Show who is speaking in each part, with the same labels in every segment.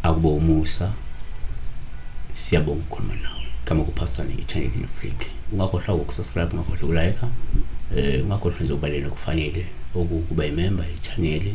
Speaker 1: Akubo umusa siyabonga ukukhuluma nawe kama kuphasane i-channel in freak ungakhohlwa ukusubscribe ungakhohlwa ukulike eh ungakhohlwa nje ukubaleka kufanele okukuba imember ye-channel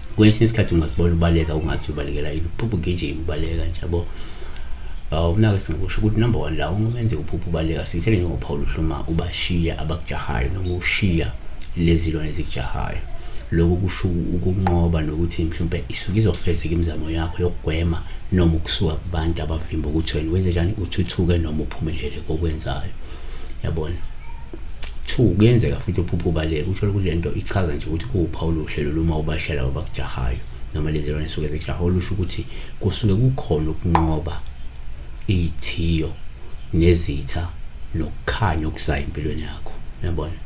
Speaker 1: kwesinye isikhathi ungasibona ubaleka ungathi ubalekela yini uphupha ugijima ubaleka nje yabo awunake singakusho ukuthi number one la ungumenze uphupha ubaleka sithele njengophawula uhluma ubashiya abakujahayo noma ushiya lezilwane ezikujahayo lokhu kusho ukunqoba nokuthi mhlawumbe isuke izofezeka imizamo yakho yokugwema noma ukusuka kubantu abavimba ukuthi wena wenze njani uthuthuke noma uphumelele kokwenzayo yabona Two, kuyenzeka futhi uphuphe ubaleka uthole ukuthi le nto ichaza nje ukuthi kuwuphawu oluhle lolu uma ubashela abakujahayo noma lezi lwane suke zikujaha olusho ukuthi kusuke kukhona ukunqoba iy'thiyo nezitha nokukhanya okuzayo empilweni yakho yabona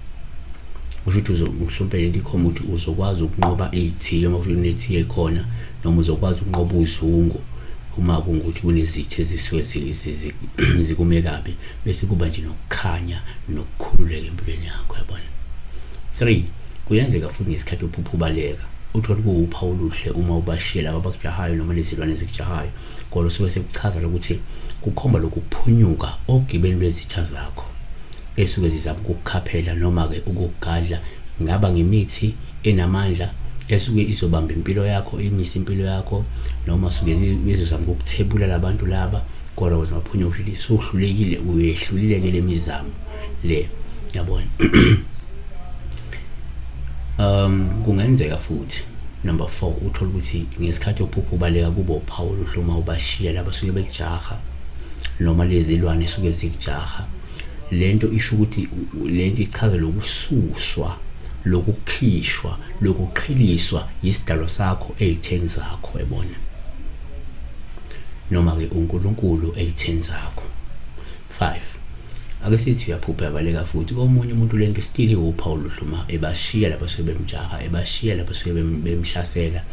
Speaker 1: kusho ukuthi mhlawumpe lento ikhomba ukuthi uzokwazi ukunqoba iy'thiyo uma kunethiyo ekhona noma uzokwazi ukunqoba uzungu uma kungukuthi kunezitha ezisuke zikume kabi bese kuba nje nokukhanya nokukhululeka empilweni yakho yabona 3 kuyenzeka futhi ngesikhathi uphupha ubaleka uthole kuwupha oluhle uma ubashiyela abakujahayo noma lezilwane ezikujahayo kodwa usuke sekuchaza lokuthi kukhomba lokuphunyuka ogibeni lwezitha zakho esuke zizama ukukukhaphela noma-ke ukukugadla ngaba ngemithi enamandla esuke izobamba impilo yakho imise impilo yakho noma suke bezozama ukukuthebula labantu laba kodwa wena waphunya uhlulile sohlulekile uyehlulile ngele mizamo le yabona um kungenzeka futhi number 4 uthola ukuthi ngesikhathi ophupha ubaleka kubo uphawu luhluma ubashiya laba suke bekujaha noma lezilwane suke zikujaha lento isho ukuthi lento ichaza lokususwa lokukhishwa lokuqhiliswa isidalwa sakho ezitheni zakho ebona noma ke uNkulunkulu ezitheni zakho 5 ake sithi uyaphupha yabaleka futhi komunye umuntu lento still iwuphawu luhluma ebashiya lapho suke bemjaha ebashiya lapho suke bemhlasela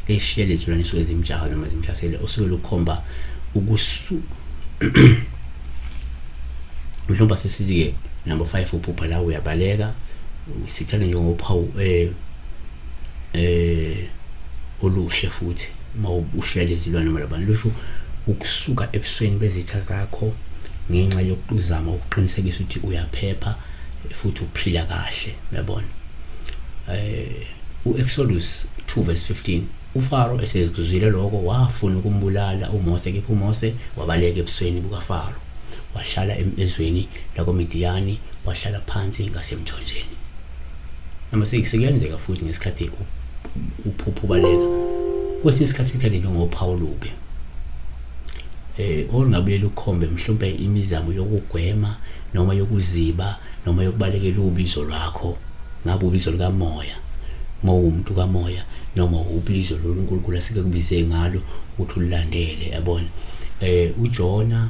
Speaker 1: eshiya lezilwane suke zimjaha noma zimhlasele osuke lukhomba ukusu mhlawumbe sesithi-ke number five uphupha la uyabaleka sithanda njengophawu um eh, eh oluhle futhi uma ubuhlela izilwane malabana lusho ukusuka ebusweni bezitha zakho ngenxa yokuzama ukuqinisekisa ukuthi uyaphepha futhi uphila kahle uyabona eh uExodus 2 verse 15 uFaro esekuzwile lokho wafuna ukumbulala uMose kepha uMose wabaleka ebusweni bukaFaro wahlala emezweni lakoMidiyani wahlala phansi ngasemthonjeni Number 6 sekuyenzeka futhi ngesikhathi uphupho baleka kwesinye isikhathi sithathe njengophawu lubi eh olungabuye lukhombe mhlawumbe imizamo yokugwema noma yokuziba noma yokubalekela ubizo lwakho ngabe ubizo likamoya uma uwumuntu kamoya noma ubizo lolu nkulunkulu asike kubize ngalo ukuthi ulilandele yabona eh ujona